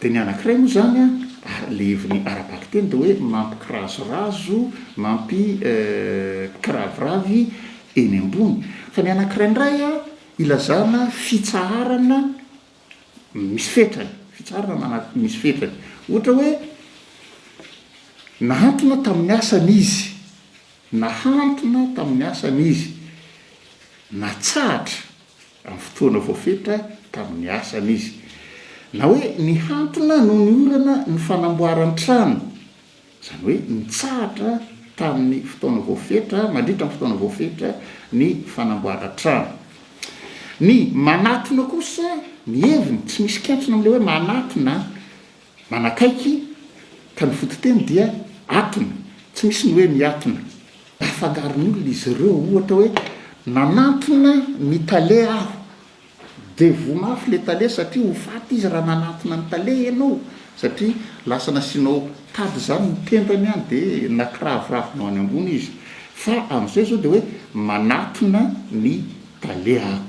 Dia ny anankiray moa izany ary ilay heviny ara-bakiteny dia hoe mampikirazorazo, mampikiraviravy eny ambony. Fa ny anankiray indray ilazana fitsaharana misy fetrany, fitsaharana misy fetrany. Ohatra hoe, nahantona tamin'ny asany izy, nahantona tamin'ny asany izy, natsahatra. amin'ny fotoana voafetra tamin'ny asany izy. Na hoe nihantona noho ny orana ny fanamboaran-trano, izany hoe nitsahatra tamin'ny fotoana voafetra, mandritra ny fotoana voafetra ny fanamboaran-trano. Ny manatona kosa, ny heviny, tsy misy kentrona amin'ilay hoe manatona, Manakaiky ka ny fototeny dia atona. Tsy misy ny hoe miatona. Afangaron'olona izy ireo. Ohatra hoe, Nanantona ny tale aho. Dia voa mafy ilay tale satria ho faty izy raha nanantona ny tale ianao. Satria lasa nasianao tady izany ny tendany an, dia nakiraviravina ho any ambony izy. Fa amin'izay izao dia hoe, Manatona ny tale aho.